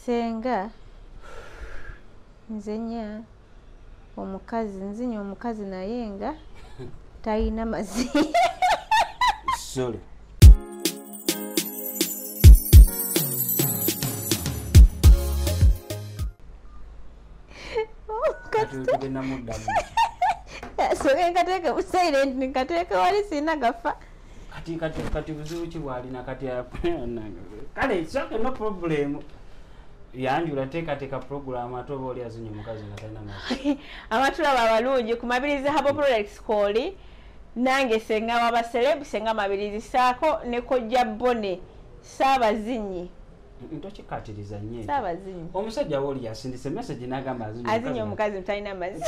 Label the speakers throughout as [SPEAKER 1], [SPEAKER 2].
[SPEAKER 1] senga nzenya omukazi nzinya omukazi naye nga talina mazi
[SPEAKER 2] sorry
[SPEAKER 1] soke nkateeke mu silent nkateeke wali siina gafa kati kati kati
[SPEAKER 2] buzibu ki bwalina kati kale sake no problemu yanjula teekateeka puroguramu ate oba oli azinye omukazi nga talina ma abatulaba
[SPEAKER 1] abalungi ku mabirizi habo products kooli nange senga wabaserebu senga mabirizi saako ne kojja bone saabazinyi
[SPEAKER 2] ntokikatiriza nyo sabazinyi omusajja
[SPEAKER 1] woli yasindise
[SPEAKER 2] message nagamba azinyi omukazi mutalina
[SPEAKER 1] mazi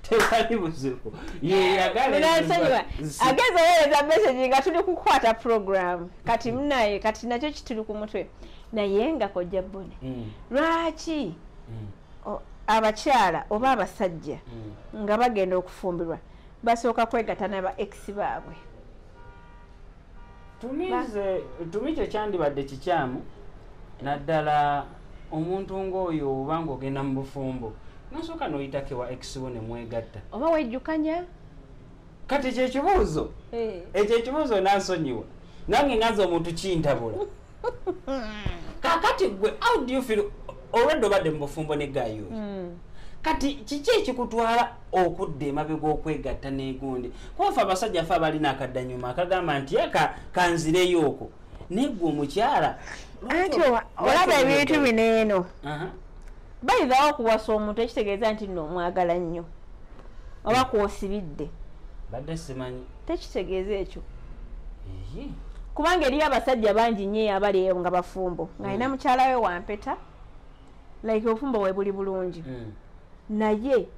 [SPEAKER 2] tewali buzibu yeyagalansonyiwa
[SPEAKER 1] ageza owereza message nga tuli kukwata program kati munaye kati nakyo kituli ku mutwe naye nga kojja bone mm. lwaki mm. abakyala oba abasajja mm. nga bagenda okufumbirwa basooka kwegata naba ex baabwe
[SPEAKER 2] tumi kyekyandibadde kikyamu naddala omuntu ngaoyo oba nga ogenda mu bufumbo nosooka noyitake wa exwo nemwegatta oba wejjukanya
[SPEAKER 1] kati
[SPEAKER 2] ekyo ekibuuzo eh. ekyo ekibuuzo nansonyiwa nange ngaza omuntu kintabula kakati gwe how do you feel olwedde obadde mu bufumbo ne gayo hmm. kati kiki ekikutwala okudda emabega okwegatta negundi kubafe abasajja fe abalina akaddanyuma akagamba nti aka kanzireyo okwo naye gwe omukyala anti
[SPEAKER 1] olaba ebintu bino eno bayidhawo okuwasa omuntu ekitegeeza nti no omwagala nnyo oba kwosibidde badde
[SPEAKER 2] simanyi tekitegeeza ekyo
[SPEAKER 1] kubanga eriyo abasajja bangi nyo abali eyo nga bafumbo nga alina mm. mukyala we wampeta like obufumbo bwe buli bulungi mm. naye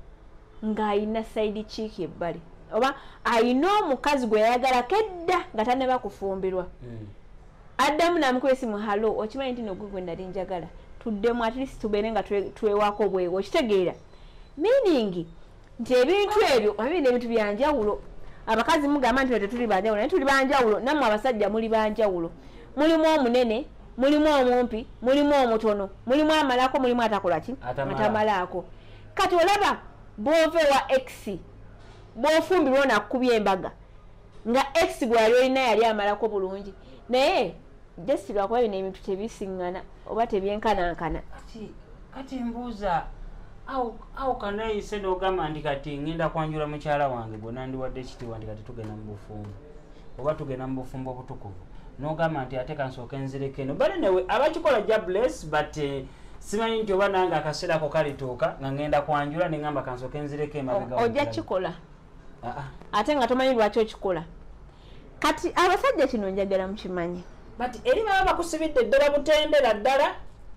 [SPEAKER 1] ng'alina saidi kiiki ebbali oba alina omukazi gwe yayagalako edda nga taneba kufumbirwa mm. addamu namukuba esimu halo okimanyi nti nogwe gwe nali njagala tuddemu at least tubeere nga twewako bwewo okitegeera meaning nti ebintu ebyo abirina ebintu byanjawulo abakazi mugamba nti tetuli banjawulo naye tuli banjawulo nammwe abasajja muli banjawulo mulimu omunene mulimu omumpi mulimu omutono mulimu amalako mulimu atakola ki atamalaako kati olaba bwova ewa x bwofumbirwa onakukubya embaga nga ex gwali olina yali amalako bulungi naye jesi lwakuba bino ebintu tebisiŋŋana oba tebyenkanankana kati
[SPEAKER 2] mbuuza awo kanayise nogamba nti kati ŋenda kwanjula mukyala wange gwe nandiwadde ekitiwa nti kati tugenda mu bufumbo oba tugenda mu bufumbo obutukuvu nogamba nti ate kansooka enzireko eno bale newe abakikola ja bless but eh, simanyi nti oba nange akaseera ako kalituuka nga ŋenda kwanjula neŋamba kansooka enzireko emabega ojja kikola
[SPEAKER 1] ah, ah. ate nga tomanyi lwaki okikola kati abasajja kino njagala mukimanyi but eri baba
[SPEAKER 2] bakusibidde eddala butendera ddala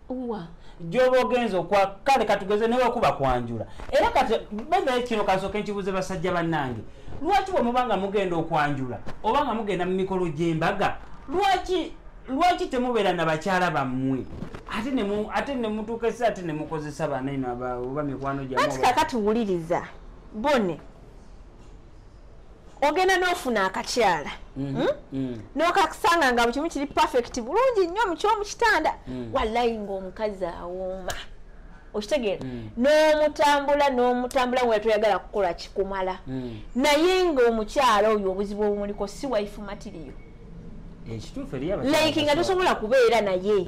[SPEAKER 2] wa gyoba ogenza okwa kale katugeze newekuba kwanjula era kati benaye kino kasooke nkibuuze basajja bannange lwaki bwe muba nga mugenda okwanjula oba nga mugenda mu mikolo gy'embaga lwaki lwaki temubeera na bakyala bammwe ate ate nemutuuka esi ate nemukozesa banaino oba mikwano gyakati kakati wuliriza
[SPEAKER 1] bone ogenda nofuna akakyala mhm, hmm? mm. nokasanga nga bukimu kiri perfect bulungi nnyo mukyomukitanda mm. walayi ngaomukazi awooma okitegeera mm. nomutambula nomutambula nga toyagala kukola kikumala naye ngaomukyala oyo obuzibu obumuliko si waifu matiriyo like nga tosobola kubeera naye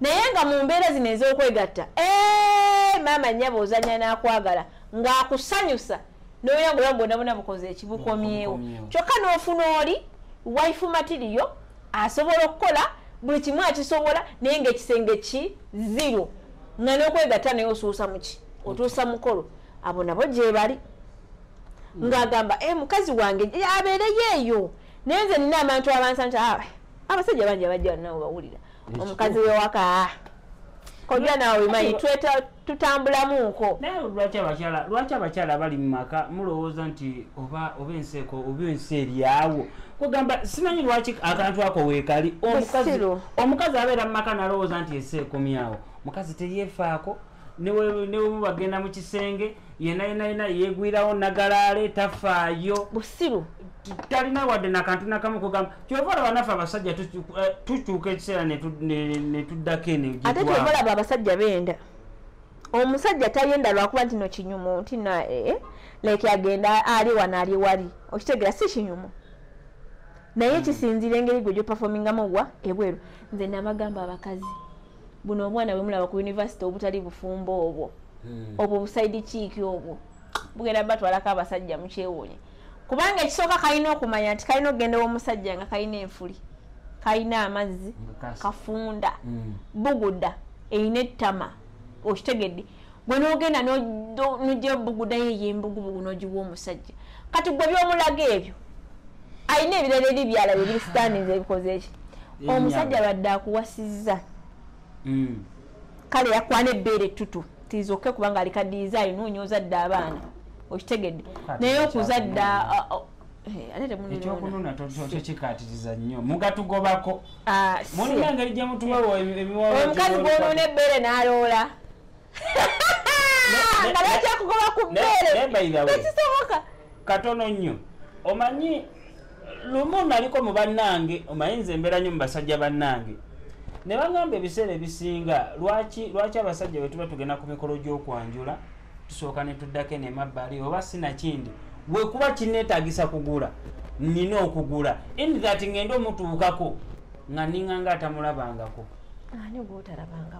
[SPEAKER 1] naye nga mu mbeera zino ez'okwegatta ee maama nnyaba ozanya n'akwagala ng'akusanyusa n'oya nga oya bwonabona bukoze ekibukomyewo kyokka n'ofuna oli wife matiriyo asobola okukola buli kimu akisobola naye ngaekisenge ki zero nga n'okwegatta naye osuusa muki otuusa mukolo abo nabo gyebali mm. ng'agamba e mukazi wange abeereyo eyo naye nze nina abantu abansanti ah, abasajja bangi abajja nawe bawulira omukazi wewaka kojja nawe omanyi tweta tutambulamu nko naye lwaki
[SPEAKER 2] abakyala lwaki abakyala bali mu maka mulowooza nti oba oba enseeko oba ensi eryawo kugamba simanyi lwaki akantu ako weekali omukazi abeera mu maka nalowooza nti ensi ekomyawo mukazi teyefaako newebuba agenda mu kisenge yena yena yena yegwirawo nagalaale tafaayo busiru
[SPEAKER 1] talina
[SPEAKER 2] wadde nakantu nakamu kugamba kyova olaba naffe abasajja eh, tukyuka ekiseera netuddako eno ate kyova olaba abasajja
[SPEAKER 1] benda omusajja tayenda lwakuba nti no kinyumu nti na eh, eh, like agenda ali wano ali wali okitegera si kinyumu naye hmm. kisinziira engeri gwe gyopafomingamu wa ebweru nze nabagamba abakazi buno omwana bwemulaba ku univesity obutali bufumbo obwo hmm. obwo busaidi kiiki obwo bugenda batwalako abasajja mukyewuunye kubanga ekisooka kalina okumanya nti kalina okugenda owomusajja nga kalina enfuli kalina amazzi kafunda hmm. buguda erina ettama okitegedde gwe nogenda nojja obugudayo eyo embugubugu nogiwa omusajja kati gwe byomulaga ebyo alina ebirala eri byala biri standings ebikoze eki omusajja badde akuwasizza mm. kale yakwana ebbeere ettutu tizoke kubanga alikadiiza ayina onyooza dde abaana okitegedde naye okuzadda
[SPEAKER 2] ekyokunona tokikatiriza nnyo mugatugobako mulina engeri gyemutuwawo emiwaomukazi gwonona ebbeere
[SPEAKER 1] naloola nga nakyakugoba ku bbeereekisoboka katono nnyo
[SPEAKER 2] omanyi lumu naliko mu bannange omanyi nze embeera nnyo mu basajja bannange ne bagamba ebiseera ebisinga lwaki lwaki abasajja bwe tuba tugenda ku mikolo gy'okwanjula tusooka ne tuddako eno emabbali oba sinakindi wekuba kineetagisa kugula nina okugula in that ngende omutuukako nga ninga nga atamulabangako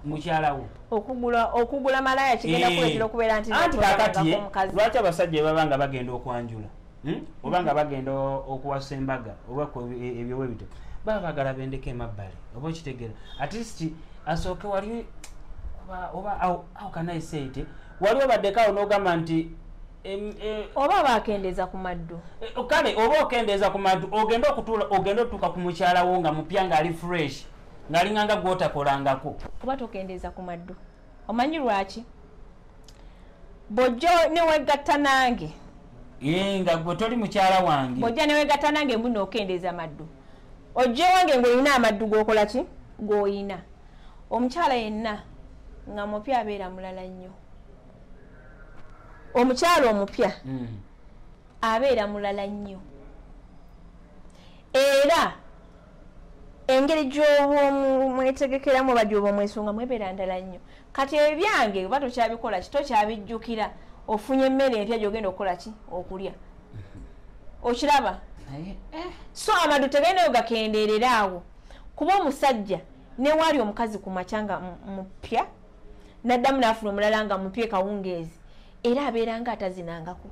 [SPEAKER 1] mukyalawo
[SPEAKER 2] okugula
[SPEAKER 1] malaya kigenda eh. kuletera okubeera nti kakati
[SPEAKER 2] lwaki abasajja bebaba nga bagenda okwanjula hmm? oba nga bagenda okuwasa embaga oba e, ebyowe bito baba bagala bendeko emabbali oba okitegera atleast asooke wali oba how can i say it wali obaddeko awo n'ogamba nti e,
[SPEAKER 1] oba bakendeeza ku maddu e, kale oba
[SPEAKER 2] okendeeza ku maddu ogenda okutuula ogenda otuuka ku mukyalawo nga mupya ngaali fresh ng'alinganga gwotakolangako kuba tokendeeza
[SPEAKER 1] ku maddu omanyi lwaki bwojjo newegatta nange nga
[SPEAKER 2] gwe toli mukyala wange bwojja newegatta nange
[SPEAKER 1] mbu nookendeeza amaddu ojja ewange ngaolina amaddu gokola ki goyina omukyala yenna nga mupya abeera mulala nnyo omukyala omupya hmm. abeera mulala nnyo era engeri gyobwomwetegekeramu oba gyobwomwesunga mwebera ndala nnyo kati ebyange oba tokyabikola ki tokyabijjukira ofunye emmere empya gyogenda okukola ki okulya mm-hmm. okiraba eh. so amadu tegendayo gakendeerera awo kuba omusajja newaali omukazi ku makya nga mupya naddamu naafuna omulala nga mupya ekawungeezi era abeera nga atazinangako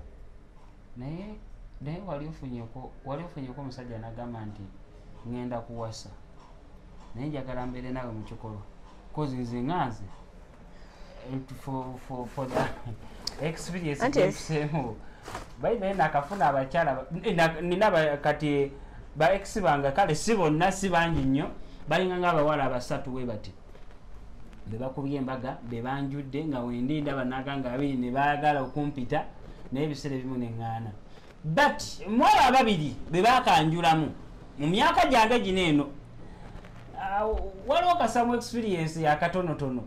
[SPEAKER 1] naye
[SPEAKER 2] naye wali ofunyeko wali ofunyeko omusajja nagamba nti ngenda kuwasa naye njagala mbeere naawe mu kikolo kozi nze nga nze experienceemu bayi naye nakafuna abakyala eh, nina kati ba ex bange kale si bonna si bangi nnyo balinga nga abawala abasatu we bati bebakubye embaga bebanjudde nga wendi ndaba naganga abiri nebagala okumpita naye ebiseera ebimu neŋŋaana but mwabo ababiri bebakanjulamu mu myaka gyange gino eno ah, waliwo kasamu experience yakatonotono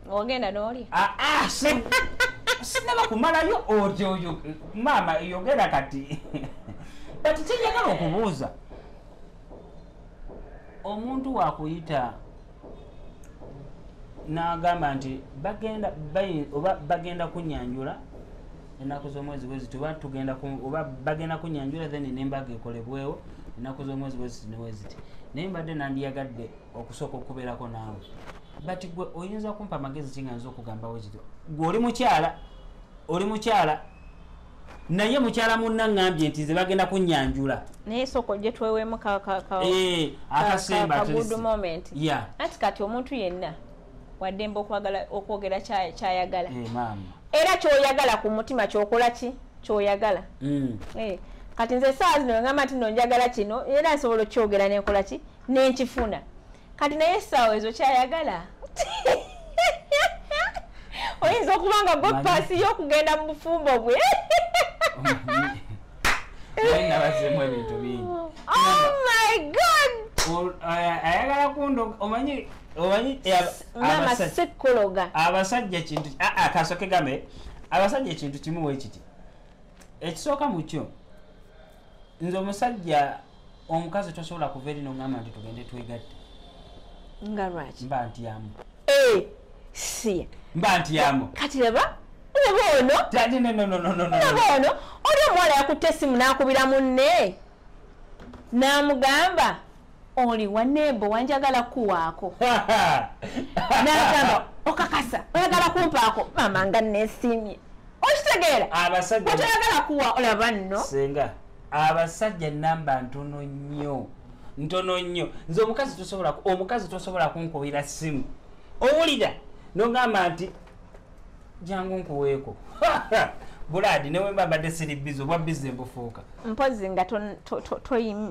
[SPEAKER 2] ogenda
[SPEAKER 1] noli ah, ah, sinaba
[SPEAKER 2] kumalayo otyo oyo maama yogera kati but kyenjagala okubuuza omuntu wakuyita nagamba nti bagenda oba bagenda kunyanjula enaku zomwezi bweziti oba tugenda oba bagenda kunyanjula then nembaga ekolebwewo enaku zomwezi bweziti neweziti naye mbadde nandiyagadde okusooka okubeerako naawe but gwe oyinza kumpa amagezi kinga nza okugambawo kityo gwe oli mukyala oli mukyala naye mukyala munna ngambye nti nze bagenda kunyanjula naye soko gye
[SPEAKER 1] twewemu eh, akasembaanti kati omuntu yenna waddembe okwogera kyayagala eh, era kyoyagala ku mutima kyokola ki kyoyagala mm. eh, kati nze esaawa zino ngamba nti no njagala kino era nsobola okukyogera nenkola ki nenkifuna kati naye esaawa ezo kyayagala oyinza okuba nga bwepaasi yokugenda mu bufumbo bwe nabazemu ebintu bingi
[SPEAKER 2] oh my god ayagala kundo omanyi omanyi
[SPEAKER 1] abasekologa abasajja kintu
[SPEAKER 2] akasoke game abasajja ekintu kimu wekiti ekisooka mukyo nze omusajja omukazi tosobola kuva eri nongamba nti tugende twegatte nga
[SPEAKER 1] lwaki mba ntyamu
[SPEAKER 2] eh,
[SPEAKER 1] si mba ntyamu
[SPEAKER 2] kati laba
[SPEAKER 1] laba ono laba ono oli omuwala yakutte esimu n'akubira munne n'amugamba oli waneebo wanjagala kuwaako nagamba okakasa oyagala kumpaako maama nga nesimye okitegeera otoyagala kuwa olaba nno senga
[SPEAKER 2] abasajja namba ntono nnyo ntono nnyo nze omukazi tosobola omukazi tosobola kunkubira simu owulira nogamba nti jangu nkuweeko buladi newemba mbadde siri bizi obwa bizi embufuuka mpozi nga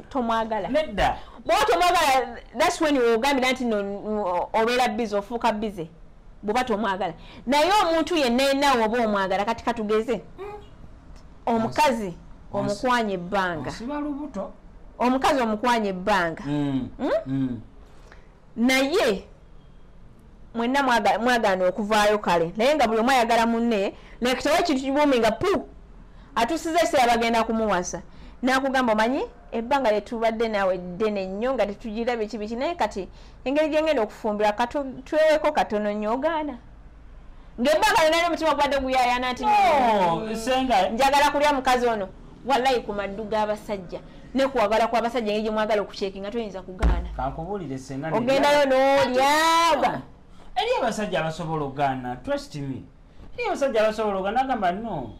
[SPEAKER 1] tomwagala nedda
[SPEAKER 2] bwoba tomwagala
[SPEAKER 1] thats wen ogambira nti obeera bizi ofuuka bize bwoba tomwagala naye omuntu yenna yenna woba omwagala kati katugeze mm. omukazi omukwanya ebbanga omukazi omukwanya ebbanga mm. Hmm? Mm. naye mwenna mwagaana okuvaayo kale naye nga buli omu ayagala munne like tewa ekintu kibuumi nga pu atusiza ekiseera bagenda kumuwasa nakugamba omanyi ebbanga lyetubadde naawe ddene nnyo nga tetugira biki biki naye kati engeri gyengenda okufumbira katweweeko katono nnyo ogaana ngaebbanga lyona lyo omutima gubadde guyayana nti oh, njagala kulya mukazi ono walayi ku maddu g'abasajja ne kuwagala kw'abasajja engeri gye mwagala okucekinga toyinza kugaana kankubuulire senga
[SPEAKER 2] ogendayo
[SPEAKER 1] n'olyaba eri
[SPEAKER 2] abasajja abasobola okugaana trust me eri abasajja abasobola okugaana agamba no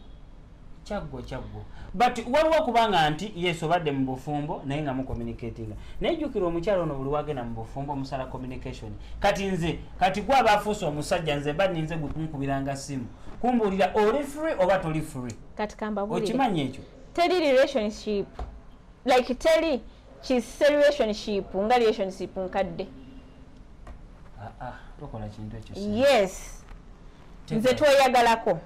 [SPEAKER 2] kyaggwa kyaggwa but waliwo okubanga nti yes obadde mu bufumbo naye nga mucommunicatinga naye jjukira omukyalo ono buli wagenda mu bufumbo omusala communication kati nze kati gwe abaafuusa omusajja nze mba ninze gwe kunkubiranga simu kumbuulira oli free oba toli free kati kambabulire okimanyi
[SPEAKER 1] ekyo teri
[SPEAKER 2] relationship
[SPEAKER 1] like teri kise relationship nga relationship nkadde ah, ah,
[SPEAKER 2] tokola kintu ekyo yes
[SPEAKER 1] nze tweyagalako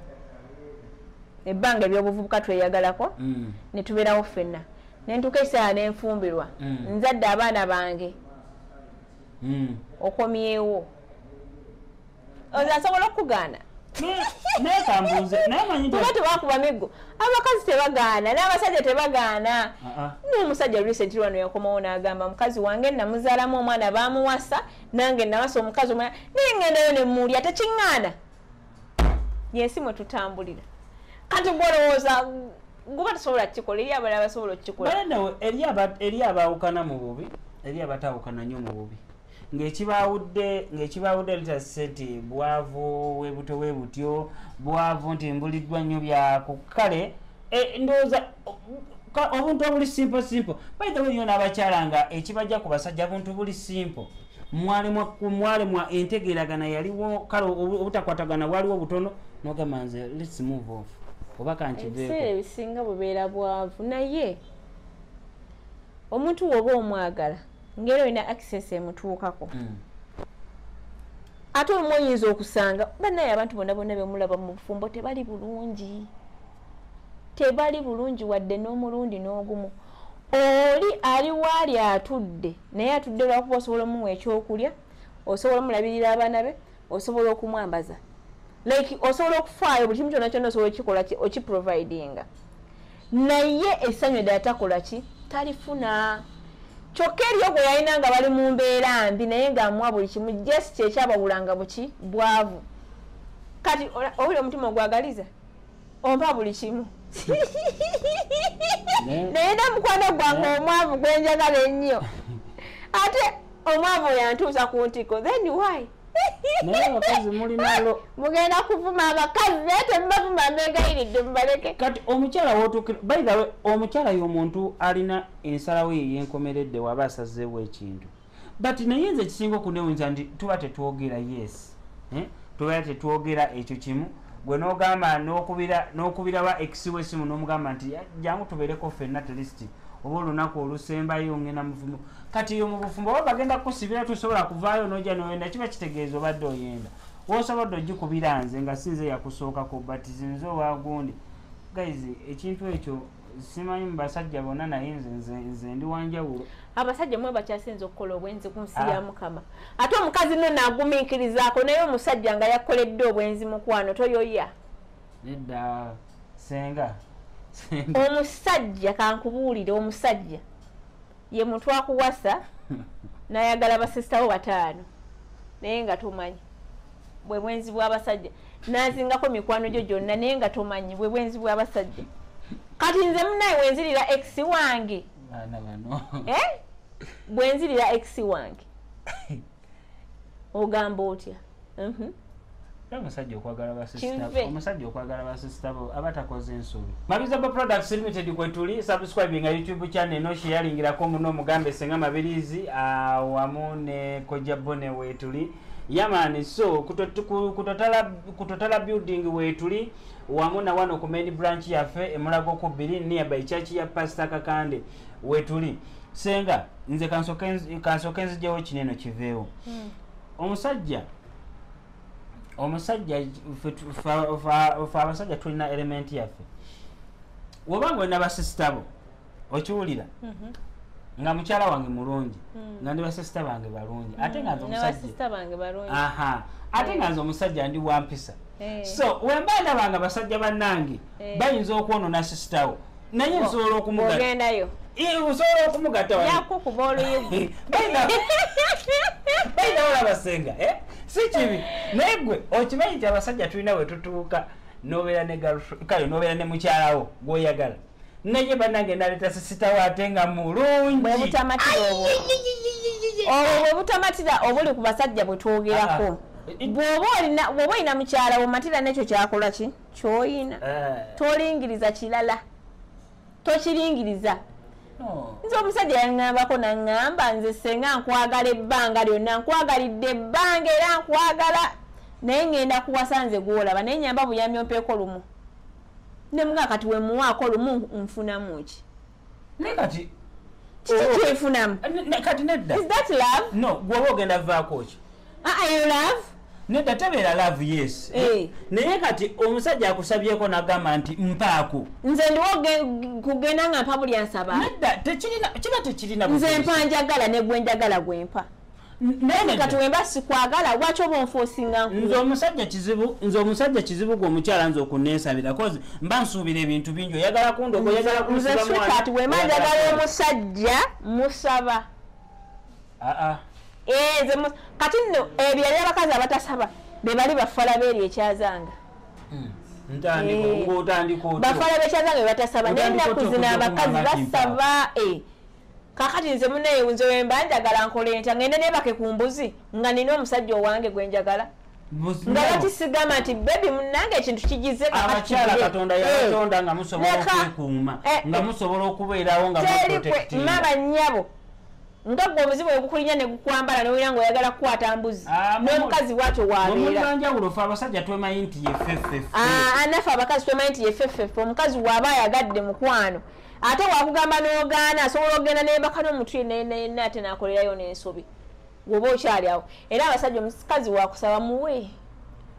[SPEAKER 1] ebbanga ebyobuvubuka tweyagalako mm. netubeerawo ffenna nentuuka ekiseera nenfumbirwa mm. nzadde abaana bange mm. okomyewo oza asobola okukugaana
[SPEAKER 2] nayekambuuzenayemanyiuba tebakuba miggo
[SPEAKER 1] abakazi tebagaana n'abasajja tebagaana n'omusajja recent wano yakomawo n'agamba mukazi wange namuzaalamu omwana bamuwasa nange nawasa omukazi omwana naye ngendayo nemuulya tekiŋŋaana yensi mwe tutambulira kati gwolowooza guba tusobola kukikola eri abala basobola okukikola
[SPEAKER 2] eri abaawukana mu bubi eri abatawukana nnyo mu bubi ng'ekibaawudde ng'ekibaawudde litase nti bwavu webuto we butyo bwavu nti mbuliddwa nnyo byakukkale e, ndowooza obuntu obuli simple simple baitha we nyo n'abakyala nga ekibajja ku basajja buntu buli simple mwalemwa entegeeragana yaliwo kale obutakwatagana bwaliwo butono nogamba nze lets move off oba kankibiseera ebisinga bubeera
[SPEAKER 1] bwavu naye omuntu woba omwagala ngeri olina access emutuukako mm. ate olumu oyinza okusanga banaye abantu bona bona bemulaba mu bufumbo tebali bulungi tebali bulungi wadde n'omulundi n'ogumu oli ali waali atudde naye atudde lwakuba osobola omuwa ekyokulya osobola omulabirira abaana be osobola okumwambaza like osobola okufaayo buli kimu kyona kyona osobola okikola okiprovidinga naye esanyu edala takola ki talifuna kyokka eriyo gwe yalina nga bali mu mbeera mbi naye ngaamuwa buli kimu jes kyekyabawulanga buki bwavu kati owuli omutima ogwagaliza ompa buli kimu naye namukwana gwange omwavu gwenjagala ennyo ate omwavu oyo antuusa ku ntiko then why naye
[SPEAKER 2] abakazi mulinalo mugenda kuvuma
[SPEAKER 1] abakazi naye temubavuma mbegayiridde mubaleke kati omukyala
[SPEAKER 2] wotukira baithawe omukyala yomuntu alina ensalawo ye yenkomeredde waba asazeewo ekintu but naye nze ekisinga okunewunza nti tuba tetwogera yes eh? tuba tetwogera ekyo kimu gwe nogamba nokubira wa exiwe esimu nomugamba nti jangu tubeereko fenna at least oba olunaku olusembayo ngenda muvumu kati yo mubufumbo oba bagenda kukusibira tosobola kuvaayo noja noyenda kiba kitegeeza obadde oyenda wosobodde ogikubira nze nga sinze yakusookako but zinze owagundi guys ekintu ekyo simanyi mubasajja bona naye nze ndi wanjawulo abasajja mwe
[SPEAKER 1] bakyasinza okukola obwenzi ku nsi ya ah. mukama ate omukazi no nagumiikirizaako naye omusajja nga yakoledde obwenzi mukwano toyoya nedda
[SPEAKER 2] senga
[SPEAKER 1] omusajja kankubuulire omusajja ye muntu akuwasa nayagala basisita bo bataano naye nga tomanyi bwe bwenzi bw'abasajja nazingako mikwano gyo gyonna naye nga tomanyi bwe bwenzi bw'abasajja kati nze munaye wenzirira ex wange eh? bwenzirira ex wange ogamba otya mhm.
[SPEAKER 2] omusajja okwagala basisitaomusajja okwagala basisita bo aba takoze ensobi mabizaba products limited kwetuli subscribinga youtube channel eno sheyalingirako muno omugambe senga mabirizi awamu ne koja bone wetuli yamani so kutotala building wetuli wamu na wano ku main branch yaffe emulago ku biri nearby church ya pastor kakande wetuli senga nze kansoke nzijewo kineno kiveewo hmm. omusajja omusajja fe abasajja tulina elementi yaffe woba nga olina basisita bo okiwulira mhm. nga mukyala wange mulungi hmm. nga ndi basisita bange balungi ate nga nze hmm. omusajja ate nga nze omusajja ndi wampisa eh. so wemba ndaba nga basajja bannange eh. bayinza okwonona sisitawo naye nsobola okumugendayo osobola okumugatayakukuba oluyugu bayinawola basenga eh? si kibi naye gwe okimanyi nti abasajja tulina wetutuuka nobeera ne kale nobeera ne mukyalawo gwoyagala naye banange naleta sisitawo ate nga
[SPEAKER 1] mulungiobwo bwebutamatira obuli ku basajja bwetwogerako ah, ah. bwoba olina mukyala womatira nekyo kyakola ki kyoyina eh. tolingiriza kirala tokiringiriza nze omusajja yaŋambako naŋamba nze senga nkwagala ebbanga lyonna nkwagalidde ebbanga era nkwagala naye ŋenda kuwasa nze gwolaba naye nyamba buyambi ompeeko lumu ne mga kati wemuwaako lumu nfunamu ki naye kati
[SPEAKER 2] kiki oh, oh.
[SPEAKER 1] kyefunamu kati nedda
[SPEAKER 2] is that love no
[SPEAKER 1] gwoba ogenda
[SPEAKER 2] vaako ki aa ah, ah, yo love
[SPEAKER 1] nedda tebeera
[SPEAKER 2] love yes eh. naye kati omusajja akusabyeko nagamba nti mpaako nze ndiwo
[SPEAKER 1] kugenda nga mpa buli ansaba nedda
[SPEAKER 2] kiba tekirina nze mpa njagala
[SPEAKER 1] negwenjagala gwempa kati wemba sikwagala waki oba onfosinga nze omusajja kizibu nze
[SPEAKER 2] omusajja kizibu gwe omukyala nze okunesabira kozi mba nsuubira ebintu bingi oyagala kundoga oyagala kunzekati wema
[SPEAKER 1] njagala omusajja musaba aa eh, nze kati nno ebyali abakazi abatasaba bebali bafala beeri ekyazanga hmm. eh. bafala bekyazanga bebatasaba naye ennaku zino abakazi basaba eh. kakati nze munaye nze wemba njagala nkole ntya ngende nebake ku mbuzi nga nina omusajja owange gwe njagala nga bakisigama nti bebi munange ekintu kigize abakyala katonda
[SPEAKER 2] yabatonda eh. nga musobola okwekuuma eh, eh. nga musobola okubeerawo nga maba
[SPEAKER 1] nyabo nga gwe omuzimu wegukulinya negukwambala nowira nga oyagala kukwata mbuzi ah, nomukazi bwatyo wabeeranjawulo fe abasajja
[SPEAKER 2] twemanyi nti yefefefe ah, anafe abakazi
[SPEAKER 1] twemanyi nti yefefefe omukazi waba ayagadde mukwano ate wakugamba nogaana asobola okugenda nembaka nomuntu yenna yenna yenna ate nakolerayo nensobi gwoba okyali awo era abasajja omukazi wakusaba muwe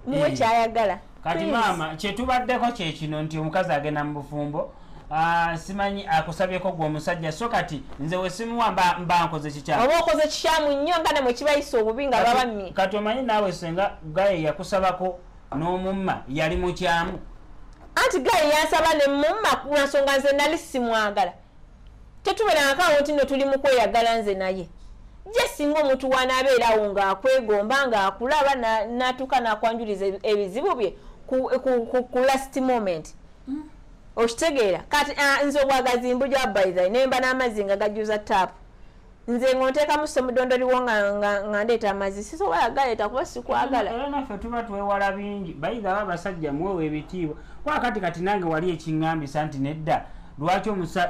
[SPEAKER 1] muwe eh. kyayagala kati maama
[SPEAKER 2] kyetubaddeko kyekino nti omukazi agenda mu bufumbo Ah, simanyi akusabyeko gwe omusajja so kati nze wesimuwa mba nkoze kikyamu oba okoze kikyamu nnyo
[SPEAKER 1] nga nemwe kibayisa obubi nga babamye kati omanyi naawe
[SPEAKER 2] senga gaye yakusabako n'omumma yali mukyamu anti gaye
[SPEAKER 1] yansaba ne mumma ku nsonga nze nali simwagala tetuberangako awo nti no tuli mu kweyagala nze naye je singa omuntu wanaabeerawo ng'akwegomba ng'akulaba n'atuuka n'akwanjuliza ebizibu bye ku last moment mm. okitegeera kati ah, nze obwagazi mbujwa baitha nemba n'amazzi nga gajjuza taapu nze ngontekamu semudondo liwo nga nga ndeeta amazi sisobola galeeta kuba sikwagala era naffe tuba
[SPEAKER 2] twewala bingi bayiga aba abasajja mwewo ebitiibwa kuba kati kati nange wali ekiŋŋambisa nti nedda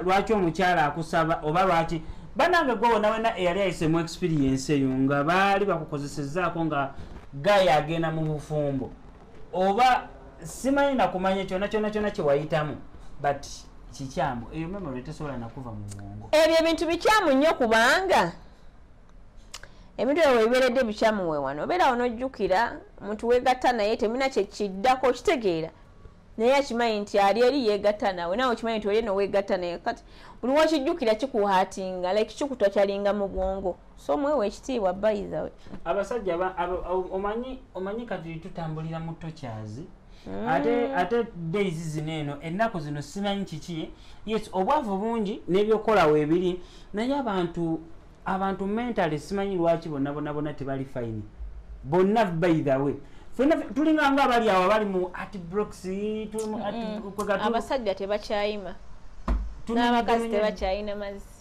[SPEAKER 2] lwaki omukyala akusaba oba lwaki banange gwe wona wena eyali ayisemu experience eyo nga baali bakukozesezaako nga gaya agenda mu bufumbo oba simanyi nakumanya kyona kyona kyona kyewayitamu but kikyamu eyo memory tesobola nakuva mu bwongo ebyo ebintu bikyamu
[SPEAKER 1] nnyo kubanga ebintu ebyo webiberedde bikyamu wewano obeera wo nojjukira omuntu wegatta naye temina kyekiddako okitegeera naye akimanyi nti ali eri yegatta nawe nawe okimanyi nti oli eno wegatta naye kati buli wakijjukira kikuhatinga like kikutwa kyalinga mu bwongo so mwewa ekitiibwa bayithawe abasajja
[SPEAKER 2] omanyi omanyi kati tutambulira mu tokyazi mm. ate ate days zino eno ennaku zino simanyi kiki yes obwavu bungi n'ebyokukola weebiri naye abantu abantu mentale simanyi lwaki bonna bona bona tebali fayini bonna bayithawe fena tulinga nga abali awo abali mu atbrox abasajja
[SPEAKER 1] tebakyayima n'abakazi tebakyayina mazzi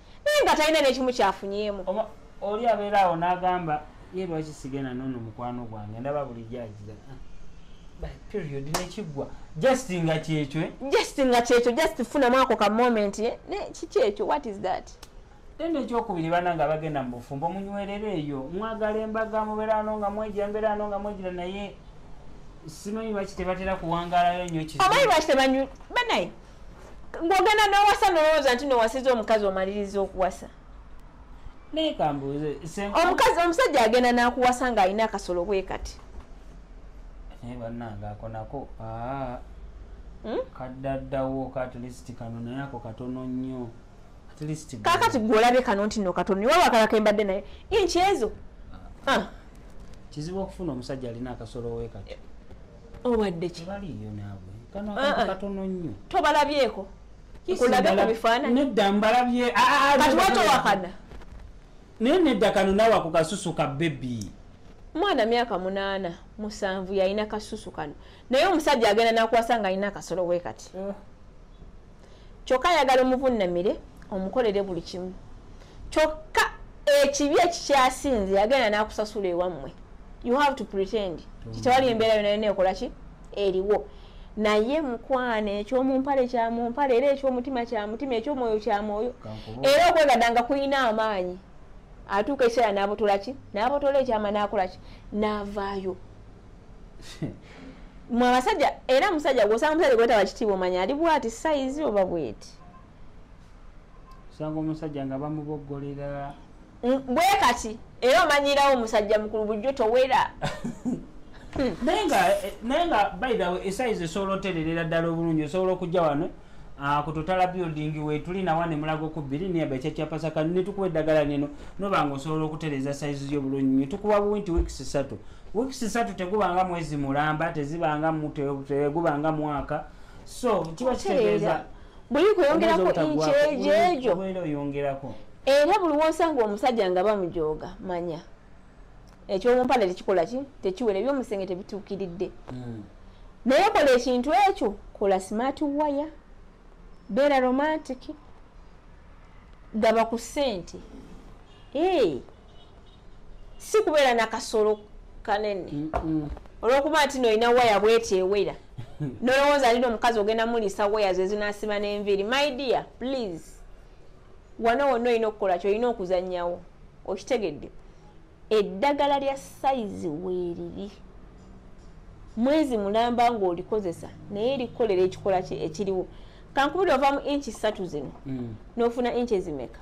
[SPEAKER 1] naye nga talina nekimu kyafunyemu oli abeera
[SPEAKER 2] awo n'agamba ye lwaki sigenda nono mukwano gwange ndaba bulijjo agira ah, period nekiggwa just nga kyekyo eh? just nga kyekyo just funamu ako ka moment eh? ne kikyekyo what is that then ekyokubiri bana nga bagenda mu bufumbo munywerere eyo mwagala embaga mubeerano nga mwejira mbeerano nga mwejira naye simanyi lwaki tebatera kuwangalayo nyo omanyi lwaki tebanyu
[SPEAKER 1] banaye ng'ogenda n'owasa nolowooza nti nowasiza omukazi omaliriza okuwasa
[SPEAKER 2] omukazi omusajja
[SPEAKER 1] agenda n'akuwasa ng'alina akasolo bwe kati
[SPEAKER 2] naye bannange ako nako aa hmm? kaddaddawo katulist kano naye ako katono nnyo
[SPEAKER 1] kakati gwe olabye kano nti no katono niwe wakalako embadde naye inkyezo ah. ah. kizibu
[SPEAKER 2] okufuna omusajja alina akasolo wekati obadde
[SPEAKER 1] ki baliyo naabwe
[SPEAKER 2] kano ah, akantu ah. katono nnyo tobalabyeko
[SPEAKER 1] kulabe ku bifaananyi nedda mbalabye
[SPEAKER 2] ah, kati watowakana naye nedda kano naawe ako kasusu ka bebi mwana myaka
[SPEAKER 1] munaana musanvu yalina kasusu kano naye omusajja agenda nakwasa nga alina akasolo we kati eh. kyokka ayagala omuvunnamire omukolere buli kimu kyokka ekibi ekikyasinze yagenda n'akusasula ewammwe you have to pretend kitewali embeera yona yona ekola ki eriwo naye mukwano ekyomumpale kyamumpale era ekyomutima kyamutima ekyomwoyo kyamwoyo era okwegada nga kulina amaanyi atuuka ekiseera n'abotolaki n'abotola ekyama n'akolaki n'avaayo mwe abasajja era musajja gwosanga omusajja gwetaba kitiibwa omanya ali bwati sayizi oba bweti osanga
[SPEAKER 2] omusajja nga bamuboggolera mm, bwe
[SPEAKER 1] kati era omanyirawo omusajja mukulu bujjo towera naye nga
[SPEAKER 2] eh, naye nga by the way esayizi esobola otererera ddala obulungi osobola okujja wano Ah, ku totala building wetuli nawa ne mulago ku biri ne abacha chapa saka ne tukuwe dagala neno no bango solo kutereza size yo bulunyi tukuwa winti weeks satu weeks satu teguba nga mwezi mulamba teziba nga mute teguba nga mwaka so kiba kitereza buli kuyongera
[SPEAKER 1] ko inche jejo bwelo yongera ko
[SPEAKER 2] era buli
[SPEAKER 1] wosanga omusajja nga bamujoga manya ekyomumpale tekikola ki tekiwera ebyomusenge tebituukiridde hmm. naye kola ekintu ekyo kola smart wire beera romantic gaba ku sente ee si kubeera nakasolo kanene hmm. olwokuba nti noolina waya bweti ewera nolowooza alina omukazi ogenda muliisa waya zezinasiba nenviiri my dear please wano wonna olina okukola kyolina okuzanyawo okitegedde eddagala lya sayizi weeriri mwezi mulamba ng'olikozesa naye erikolera ekikola ki ekiriwo kankubuli ova mu inki ssatu zino mm. n'ofuna inki ezimeka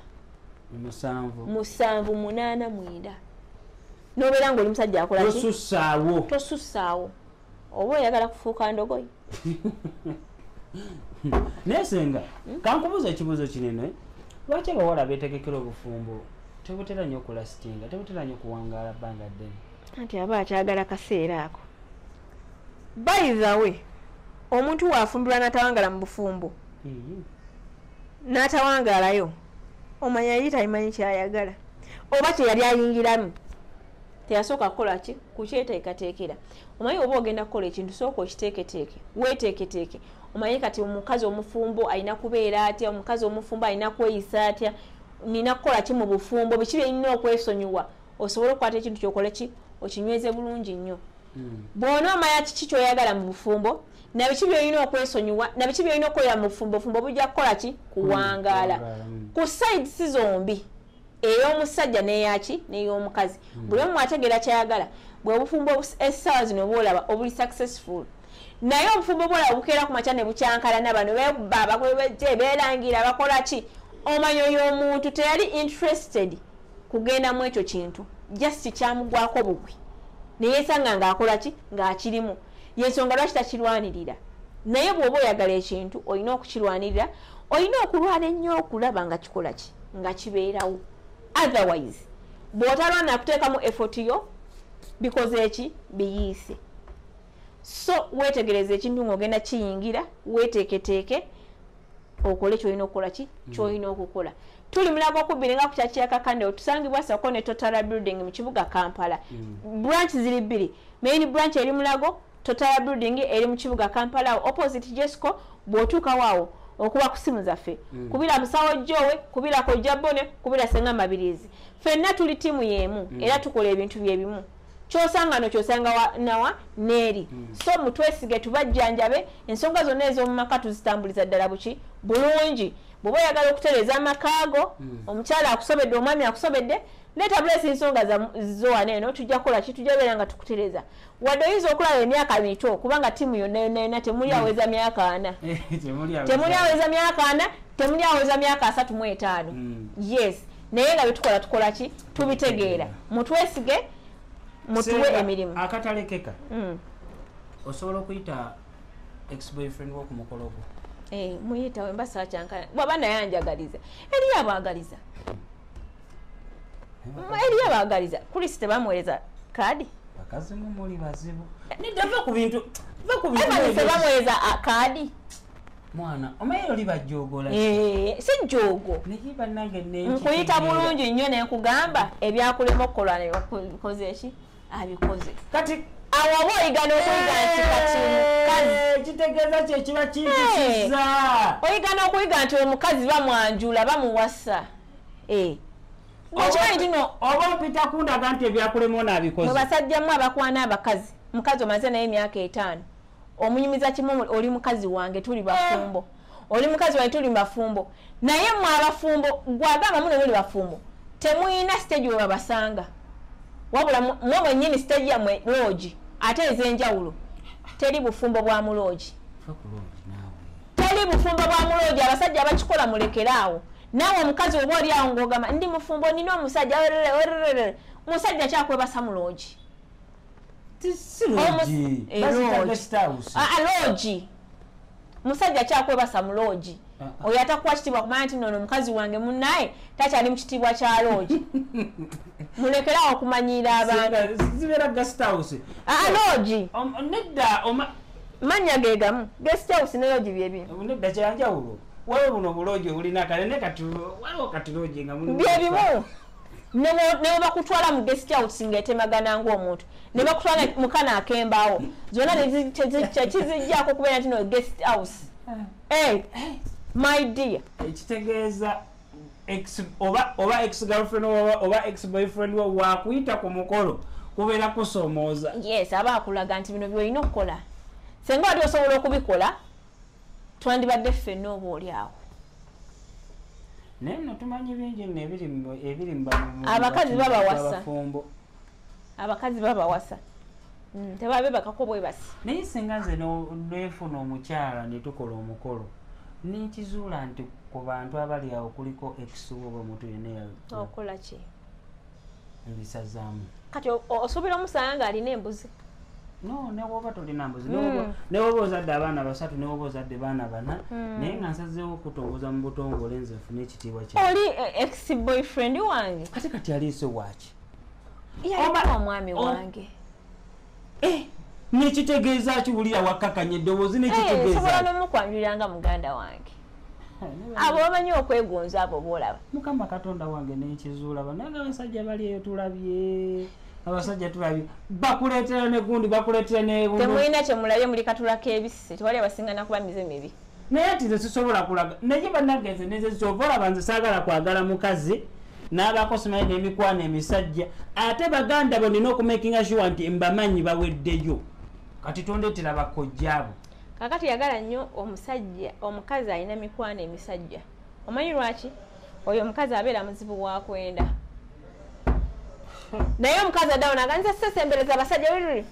[SPEAKER 1] musanvu
[SPEAKER 2] munaana
[SPEAKER 1] mwenda n'obeera ng'oli musajja akolaki tosussaawo oba oyagala kufuuka ndogoyi
[SPEAKER 2] naye senga hmm? kankubuuza ekibuuzo kinene lwaki abawala betegekera obufumbo tebutera nyo okulasitinga tebutera nyo okuwangaala bbanga ddene anti aba akyagala
[SPEAKER 1] kaseera ako bayithawe omuntu waafumbirwa natawangala mu bufumbo hmm. natawangaalayo omanya yali tayimanyi kyayagala oba kyeyali ayingiramu teyasooka kukola ki kukyeteekateekera omanyi oba ogenda kukola ekintu sooka okiteeketeeke weeteeketeeke omanyi kati omukazi omufumbo alina kubeera atya omukazi omufumbo alina kweyisa atya nina kukola ki mu bufumbo biki byenina okwesonyiwa osobole okukwata ekintu kyokole ki okinyweze bulungi nnyo hmm. bwona omanya kiki kyoyagala mu bufumbo nabiki byolina okwesonyiwa nabiki byolina okukolera mu bufumbo bufumbo bujja kukola ki kuwangaala hmm. ku sides zombi ey'omusajja n'eyaki n'ey'omukazi hmm. buli omu ategeera kyayagala bwe bufumbo essaawa zino bwolaba obuli successful naye obufumbo bwolaba bukeera ku makya ne bukyankalana bano beba bakwebejje beerangira bakola ki omanyo y'omuntu teyali interested kugenda mu ekyo kintu just kyamugwako bugwi neyesanga ng'akola ki ng'akirimu yensonga lwaki takirwanirira naye bwoba oyagala ekintu olina okukirwanirira olina okulwana ennyo okulaba nga kikola ki nga kibeerawo otherwise bwotalwana akuteekamu effort yo bikoze eki biyiise so wetegereza ekintu ngaogenda kiyingira weteeketeeke okole kyolina okukola ki mm. kyolina okukola tuli mulago okubbiri nga kukyakyakakande otusangibwa sako ne totara building mu kibuga kampala mm. branch ziri bbiri main branch eri mulago totara building eri mu kibuga kampala opposite jesco bwotuukawoawo okuba ku simu zaffe mm. kubira musawo jowe kubira kojja bone kubira senga mabirizi fenna tuli tiimu yemu mm. era tukola ebintu byebimu kyosanga no kyosanga wa, nawa neeri mm. so mutwesige tubajjanjabe ensonga zonna ez'omu maka tuzitambuliza ddala buki bulungi bw'oba oyagala okutereeza amakaago mm. omukyala akusobedde omwami akusobedde leeta buleesi ensonga zowana eno tujja kukola ki tujja beera nga tukutereeza wadde oyinza okulaba emyaka mito kubanga tiimu yonna yonna yonna temuli aweza mm. myaka ana temuli aweza myaka ana temuli aweza myaka asatu mu etaano mm. yes naye nga byetukola tukola ki tubitegeera mutwesige mutuwe emirimu akatalekeka mm.
[SPEAKER 2] osobola okuyita exboyfriend wokumukolo gwo eh, muyita wemba
[SPEAKER 1] sakyankana bwaba naye anjagaliza eriyo abagaliza eh, eriyo abagaliza kulisi tebamuwereza kadi bakazi mumuli
[SPEAKER 2] bazibu nidava ku bintu va ku bintu
[SPEAKER 1] bamuwereza kadi mwana
[SPEAKER 2] omaye oli bajoogola eh, si
[SPEAKER 1] joogo naye banange
[SPEAKER 2] nkuyita bulungi
[SPEAKER 1] nnyo nenkugamba ebyakulema okukola nebikoze eki abikoze kati
[SPEAKER 2] awo oba oyigana
[SPEAKER 1] okuyiga nti kati mukazi eh, kitegeeza kyekiba
[SPEAKER 2] kiyisiza eh, oyigana
[SPEAKER 1] okuyiga nti omukazi bamwanjula bamuwasa okimanyi tino oba mpita kundaga
[SPEAKER 2] nti ebyakulema onaabikoze mu basajjamu abakwana
[SPEAKER 1] abakazi mukazi omaze naye emyaka etaano omunyumiza kimu oli mukazi wange tuli bafumbo eh. oli mukazi wange tuli bafumbo naye mwe abafumbo gwagamba mune muli bafumbo temuyina siteegi we babasanga wabula mwe mwenyini siteegi yamwe loogi ate ez'enjawulo teri bufumbo bwa muloogi teri bufumbo bwa muloogi abasajja bakikola mulekeraawo naawe omukazi oba oli awo ngaogamba ndi mufumbo nina omusajja musajja kyakwebasa muloogi loogi musajja kyakwebasa mu loogi ah, ah. oyo atakuwa kitiibwa kumanya nti nono omukazi wange munaye takyali mu kitiibwa kya loogi mulekerawo okumanyiira abantuloogi mannya ge gamu gesthouse ne loogi byebinedakyanjawulo
[SPEAKER 2] waliwo buno obuloogi obulina kale ne kati waliwo kati loogi nga byebimu
[SPEAKER 1] nebwebakutwala mu guest out nga etemagana ngaomuntu nebakutwala mukana akembaawo zona tekizijjako okubeera nti no guest house eh. Eh, my dear ekitegeeza
[SPEAKER 2] oba ex girlfriend oba ex boyfriend wo wakuyita ku mukolo kubeera kusomooza yes aba akulaga
[SPEAKER 1] nti bino byolina okukola senga wali osobola okubikola twandibadde ffenna oba oli awo naye
[SPEAKER 2] no tumanyi bingi no ebiri abakazi babawasa
[SPEAKER 1] abakazi babawasa mm, tebabe bakako bwebasi naye singa nze
[SPEAKER 2] nefuna omukyala netukola omukolo nekizuula nti ku bantu abali awo kuliko ekisuubo omuntu yeneyaokolaki ebisazaamu kati
[SPEAKER 1] osuubira omusanga ng'alina embuzi no
[SPEAKER 2] newoba tolina mbuzi hmm. newoba ozadde abaana basatu newoba ozadde baana bana hmm. naye nga nsazeewo okutongoza mu butongole nze nfuna ekitiibwa kya oli eh, ex
[SPEAKER 1] boyfriend wange kati kati aliise
[SPEAKER 2] waaki yalina
[SPEAKER 1] omwami wange eh,
[SPEAKER 2] nekitegeeza kiwulira wakkakanya eddoboozi nekitegeezasobola eh, nomukwanjulira
[SPEAKER 1] nga muganda wange abo bamanyi okwegonza abo bolaba mukama katonda wange
[SPEAKER 2] nenkizuula banange abasajja bali eyo tulabye abasajja tulabye bakuleetera negundi bakuleetera netemulina kyemulabye muli
[SPEAKER 1] katula kebisi tewali abasinga nakuba mize mibi naye ati nze sisobola
[SPEAKER 2] kulaga naye banange nze nze kyova olaba nze saagala kwagala mukazi n'abaako simanyi n'emikwano emisajja ate baganda bo nina okumakinga sure nti mbamanyi baweddeyo kati tondeetera bakojjaabo kakati yagala
[SPEAKER 1] nnyo omusajja omukazi alina mikwano emisajja omanyi lwaki oyo omukazi abeera muzibu wakwenda naye omukazi adawo naganiza sesembereza abasajja oyo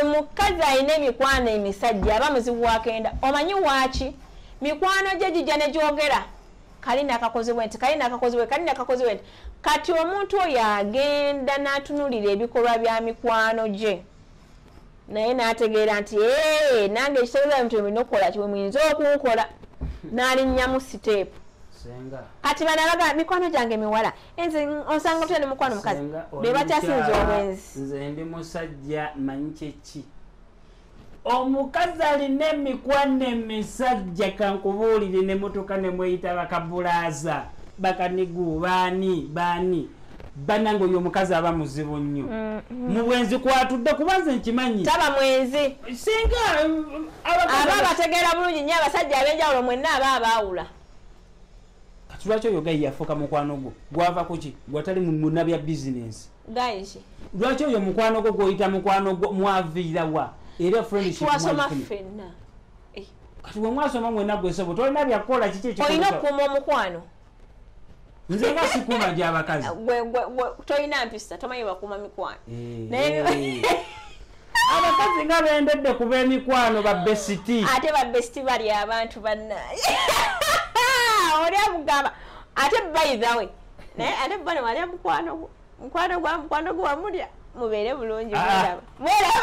[SPEAKER 1] omukazi alina emikwano emisajja aba muzibu wakenda omanyi waki mikwano gye gijja negyogera kali nakakozebwe nti kali nakakozebwe kali nakakozebwe nti kati omuntu oyo agenda natunulira ebikolwa bya mikwano gye naye n'ategeera nti ee nange ekitegeeza nti olina okukola kiwe muyinza okunkola n'alinnyamu siteepu kati bana baga mikwano gyange miwala nze osanga otya ne mukwano mukazi be bakyasinza obwenzi nze ndi musajja
[SPEAKER 2] manyi kyeki omukazi alina emikwano emisajja kankubuulire ne mutuka ne mweyita bakabulaaza bakanigu baani baani banange oyo omukazi aba muzibu nnyo mm, mm. mu bwenzi kwatudde kuba nze nkimanyi taba mwenzi
[SPEAKER 1] singa
[SPEAKER 2] um, aba
[SPEAKER 1] abategeera bulungi nnyo abasajja ab'enjawulo mwenna aba abaawula
[SPEAKER 2] kati lwaki oyo gayi yafuuka mukwano gwo gwava ku ki gwatali muna bya bizinensi gayiki
[SPEAKER 1] lwaki oyo mukwano
[SPEAKER 2] gwo gw'oyita mukwano gwo mwaviira wa era friendshipwasoma ffenna eh.
[SPEAKER 1] kati
[SPEAKER 2] wemwasoma mwena gwesebo tolina byakukola kiki olina okuuma omukwano nze nga sikuuma gyabakazi tolina
[SPEAKER 1] mpisa tomanyi bakuuma mikwano eh.
[SPEAKER 2] abakazi nga bendedde ku bemikwano babesiti ate babesiti
[SPEAKER 1] bali abantu banaye oli amugamba ate baithawe naye ate bana wali amukwano gwo mukwano gwa mukwano gwe wamulya mubeere bulungi ah. mwelaba